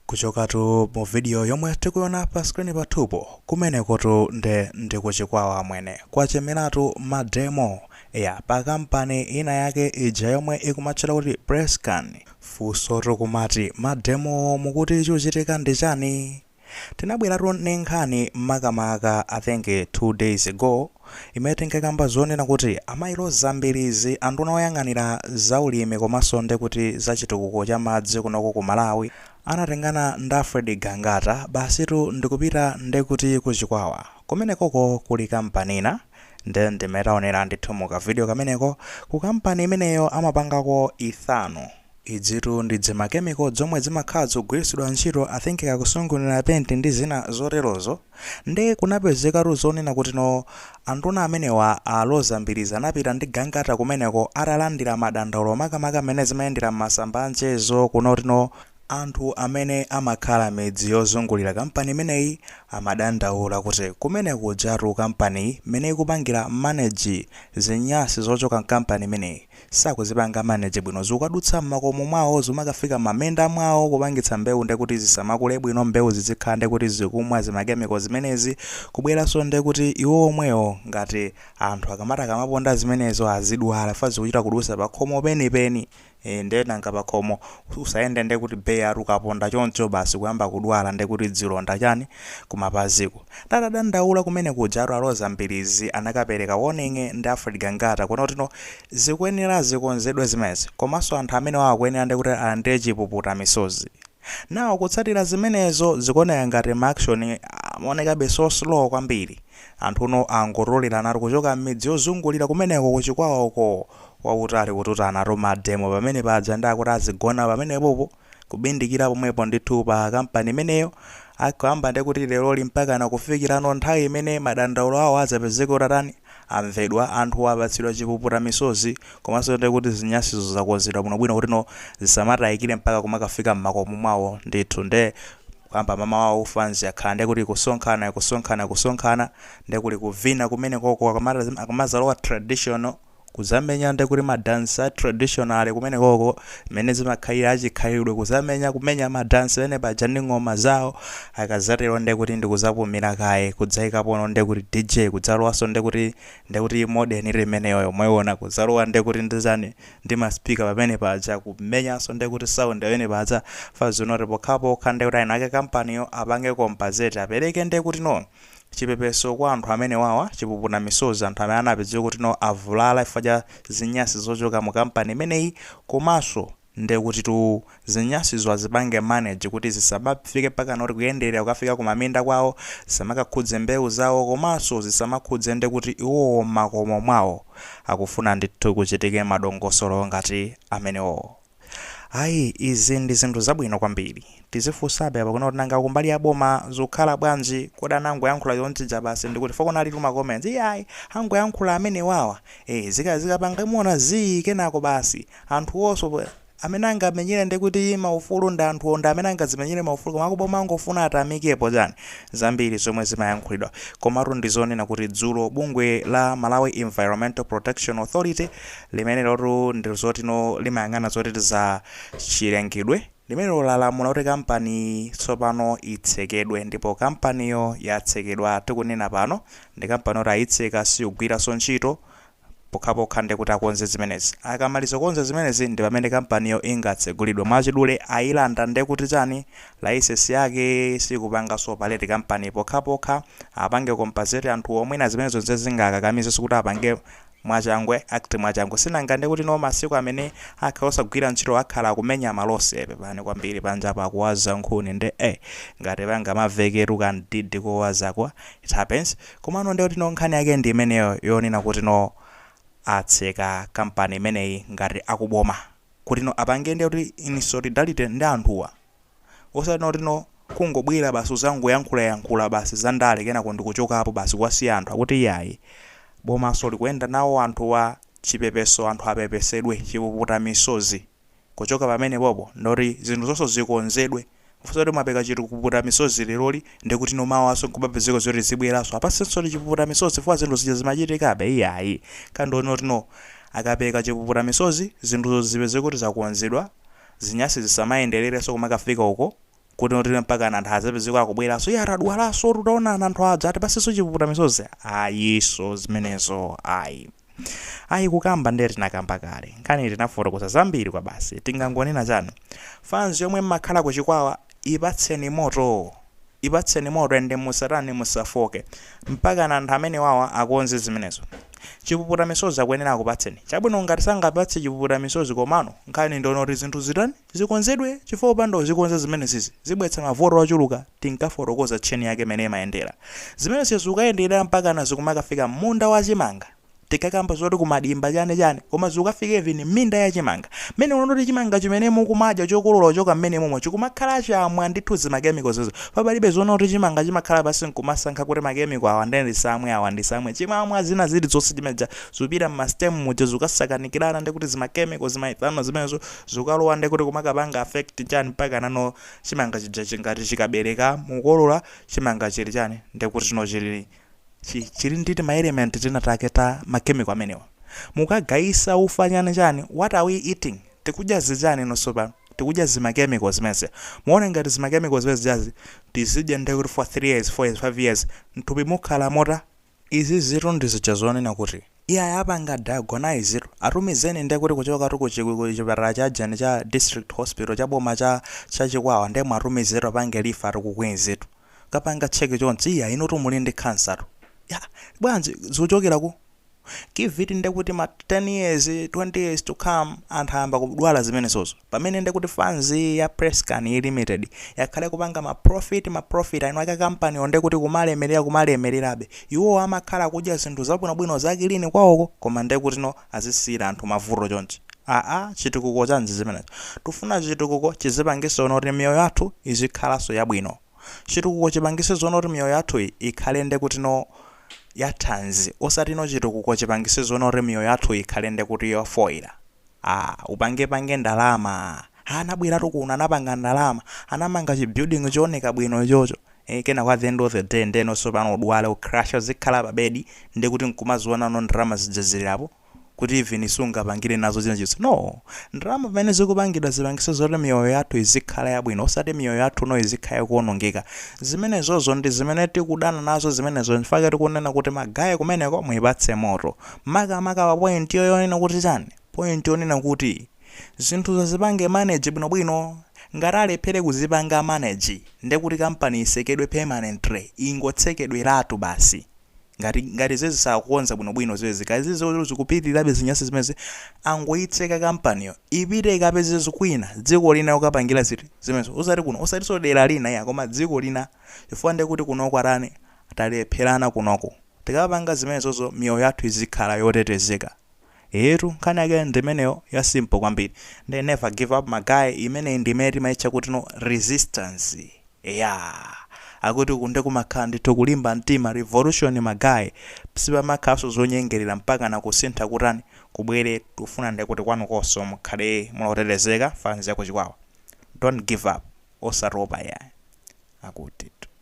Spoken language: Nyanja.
kuchokatu mu video yomwe tikuiona pa screen pathupo kumenekotu nde ndikuchikwawa amwene kwachemeratu mademo ya pa kampani ina yake ija yomwe ikumatchedwa kuti PressCane funsotu nkumati mademowo mukuti chikuchitika ndi chani Tinabwelatu ni nkhani makamaka I think 2 days ago imene tinkakamba zonena kuti amayi Loza Mbilizi anduna oyang'anira za ulimi komanso nde kuti za chitukuko cha madzi kunoko ku Malawi anatengana ndi Alfred Gangata basitu ndikupita nde kuti ku Chikwawa kumenekoko kuli kampani ina nde ndi mmene taonera ndithu mu ka video kameneko ku kampani imeneyo amapangako ethanol Idzitu ndi dzimachemical dzomwe dzimakhala dzikugwiritsidwa ntchito I think kaya kusungunulira penti ndi zina zoterozo, nde kunapezekatu zonena kutino anduna amenewa a Loza Mbilizi anapita ndi Gangata kumeneko atalandira madandaulo makamaka mmene zimayendera mmasamba a mchezo kunena kutino anthu amene amakhala midzi yozungulira kampani imeneyi amadandaula kuti kumene kujatu kampaniyi mmene ikupangira manage zinyasi zochoka mkampani imeneyi sakuzipanga manage bwino zukadutsa mmakomo mwawo zimakafika mmaminda mwawo kupangitsa mbewu ndekuti zisamakule bwino mbewu zidzikhala ndekuti zikumwa zimachemical zimenezi kubweranso ndekuti iwo omwewo ngati anthu akamati akamaponda zimenezo azidwala chifukwa zikuchita kudusa pakhomo penipeni ee nde nanga pakhomo usayende ndekuti bare-tu ukaponda choncho basi kuyamba kudwala ndekuti dzilonda chani kumapaziku ndiye atadandaula kumene kujatu a Loza Mbilizi anakapereka warning ndi Alfred Gangata kunena kutino zikuyenera zikonzedwe zimenezi komanso anthu amenewa akuyenera ndi kuti alandire chipuputa misozi now kutsatira zimenezo zikuoneka ngati ma action amaonekabe so slow kwambiri anthuno angotoleranatu kuchoka m'midzi yozungulira kumeneko ku Chikwawa uko kwa kutali kututanatu ma demo pamene paja ndi akuti azigona pamenepopo kubindikira pomwepo ndithu pa kampani imeneyo akuyamba ndi kuti leroli mpakana kufikira pa nthawi imene madandaulo awo adzapezeke atatani amvedwa anthu apatsidwa chipuputa misozi komanso ndi kuti zinyasizo zakonzedwa bwinobwino kutino zisamatayikire mpaka kumakafika m'makomo mwawo ndithu nde kuyamba mamawa wa u fans akhala ndi kuti kusonkhana kusonkhana kusonkhana nde kuli kuvina kumenekoko akamazalowa traditional kuzamenya nde kuti ma dance a traditional kumenekoko mmene zimakhalira achikhalidwe kuzamenya kumenya ma dance pamene paja ndi ng'oma zawo akazatero nde kuti ndikuzapumira kaye kudzaikapono nde kuti DJ kudzalowanso nde kuti nde kuti modern limeneyo yomweona kuzalowa nde kuti ndi chani ndi ma speaker pamene paja kumenyanso nde kuti sound pamene paja fans nkunena kuti pokhapokha nde kuti eni ake kampaniyo apange compensate apereke nde kuti no chipepeso kwa anthu amenewawa chipuputa misozi anthu amene anapezeka kuti no avulala chifukwa cha zinyasi zochoka mu kampani imeneyi komanso ndekutitu zinyasizo azipange manage kuti zisamafike pakana kuti kuyenderera kukafika ku maminda kwawo zisamakakhudze mbewu zawo komanso zisamakhudze ndekuti iwowo mmakomo mwawo akufuna ndithu kuchitike madongosolo ngati amenewowo. Ayi izi ndi zinthu zabwino kwambiri. Tizifunabe apa kuona kuti nanga kumbali ya boma zikukhala bwanji, kodi anangoyankhula chonchija basi ndiye kuti chifukwa kunalitu ma comments iyayi angoyankhula amenewawa ee zika zikapanga muona zii kenako basi anthuwonso amene angamenyere ndi kuti maufulu ndi anthuwo ndi amene angadzimenyere maufulu koma akuboma angofuna atamekepo chani zambiri zomwe zimayankhulidwa komatu ndi zonena kuti dzulo bungwe la Malawi Environmental Protection Authority Limenelotu ndi zoti no limayang'ana zoti za chilengedwe. Limenelo lalamula kuti kampani tsopano itsekedwe ndipo kampaniyo yatsekedwa tikunena pano. Ndi kampani yoti ayitseka sikugwiranso ntchito pokhapokha ndiye kuti akonze zimenezi. Akamaliza kukonza zimenezi ndi pamene kampaniyo ingatsegulidwe. Mwachidule ayilanda ndiye kuti chani layisensi yake sikupanganso operate kampaniyi pokhapokha apange compensate anthuwo. Mwina zimenezo ndiye zingakakamizenso kuti apange Mwachangu act mwachangu sinanga nde kuti no masiku amene akhala osagwira ntchito akhala akumenya ma loss pepani kwambiri panjapo akuwaza nkhuni nde eh ngati pangamaveketu kamdidi kowazako it happens komanso nde kuti no nkhani yake ndi imeneyo yonena kuti no atseka company imeneyi ngati akuboma kuti no apange nde kuti in solidarity ndi anthuwa osati nde kuti no kungobwera basi kuzangoyankhula yankhula basi za ndale kenako nkuchokapo basi kuwasiya anthu akuti iyayi bomaso likuyenda nawo anthuwa chipepeso anthu apepesedwe chipuputa misozi kuchoka pamenepopo ndoti zinthuzonso zikonzedwe osati mwapereka chipuputa misozi leroli ndekuti no mawaso nkubapezeka zoti zibweraso apatsidwenso chipuputa misozi chifukwa zinthu zija zimachitikabe iyayi koma nde kuti no akapereka chipuputa misozi zinthuzo zipezeke kuti zakonzedwa Zinyasi zisamayendelerenso kumakafika uko, kuti no mpakana anthu adzapezeke akubweranso, Iyaa tadwalansotu, taonani anthu aja atipatsenso chipuputa misozi. Ayiso zimenezo ayi. Ayi kukamba ndiye tinakamba kale. Nkhaniyi tinafotokoza zambiri kwabasi. Tingangonena chani? Fans yomwe mmakhala ku Chikwawa ipatseni moto! Ipatseni moto and musatani musafooke mpakana anthu amenewawa akonze zimenezo. Chipuputa misozi akuyenera akupatseni. Chabwino ngati sangapatse chipuputa misozi komano nkhani ndi yonena kuti zinthu zitani zikonzedwe chifukwa kupanda kuzikonza zimenezizi zibweretsa mavuto ochuluka tinkafotokoza chain yake mmene imayendera. Zimenezio zikukayendera mpakana zikumakafika mmunda wa chimanga. tikakamba zoti kumadimba chani chani koma zikukafika even mminda ya chimanga mmenemuno kuti chimanga chimene mukumadya chokolola kuchoka mmenemomo chikumakhala chamwa ndithu zima chemicals izo palibe zonena kuti chimanga chimakhala pansi nkumasankha kuti ma chemical awa ndiye ndisamwe awa ndisamwe chimamwa zina zilizonse zimene zija zikupita mma stem muja zikukasakanikirana ndiye kuti zima chemical zima ethanol zimenezo zikukalowa ndiye kuti zimakapanga affect chani mpakanano chimanga chija chikati chikabereka mukolola chimanga chili chani ndiye kuti chino chili chi, chili ndi timaelementi tinatake ta makemiko amenewa. Mukagayisa ufa chani chani, what are we eating? Tikudya zichani inu tsopano? Tikudya zimakemiko zimenezi. Muona ngati zimakemiko zimene zijazi tikadya nde kuti for 3 years, 4 years, 5 years, mthupi mukhala mutani? Izizitu ndi zija zonena kuti, iyayi apanga diagnose'tu, atumizeni nde kuti kuchokatu ku chi, ku chipatala cha chani, cha district hospital, cha boma cha, cha Chikwawa, nde mwatumizetu apange refer'tu ku Queen's tu. kapanga check chonchi iya inutu muli ndi khansatu ya bwanji zikuchokera ku Kivuti ndekuti ma 10 years 20 years to come anthu ayamba kudwala zimenezozo pamene ndekuti fans ya PressCane iyi limited yakhale kupanga ma profit ma profit eni ake kampani wo ndekuti kumalemerera kumalemererabe iwo amakhala kudya zinthu zabwinobwino za clean kwawoko koma ndekuti no atisiyira anthu mavuto chonchi aa chitukuko chanji chimenecho tufuna chitukuko chizipangisa zonoti miyoyo yathu izikhalanso yabwino chitukuko chipangise zonoti miyoyo yathuyi ikhale ndekutino ya thanzi osatino chitukuko chipangise zonoti miyoyo yathuyi ikhale ndekuti yofoila aa upange pange ndalama aa anabweratu kuno anapanga ndalama anamanga chi building chooneka bwino ichocho ee kenako at the end of the day ndeno tsopano udwale ucrashe udzikhala pa bed ndekuti nkumazionano ndalama zija zili apo kuti even sungapangile nazo china chilichonse no! ndalama pamene zikupangidwa zipangise zoti miyoyo yathu idzikhala yabwino osati miyoyo yathuno idzikhala ikuonongeka zimenezozo ndizimene tikudana nazo zimenezo nchifukwa tikunena kuti ma guy kumeneko muipatse moto makamaka pa point'yo yonena kuti chani point yonena kuti zinthuzo azipange manage bwinobwino, ngati alephere kuzipanga manage nde kuti company isekedwe permanently, ingotsekedweratu basi, ngati ngati zezi sakukonza bwinobwino zezi, kaya zizi zoti zikupitilirabe zinyasi zimenezi, angoitseka company'yo, ipite ikapeze kwina, dziko lina lokapangira ziti, zimenezo, osati kuno, osatinso dera lina iya, koma dziko lina, chifukwa nde kuti kunoku atani, talephelana kunoku, tikamapanga zimenezozo miyoyo yathu izikhala yotetezeka, Eetu nkhani yake ndimeneyo ya simple kwambiri nde never give up ma guy imeneyi ndi imene timaitcha kutino resistance eya akuti uku nde kumakhala ndithu kulimba mtima revolution ma guy sipamakhalanso zonyengerera mpakana kusintha kutani kubwere tikufuna nde kuti kwanukonso mukhale muli otetezeka fans ya ku Chikwawa don't give up osatopa yayi akutitu.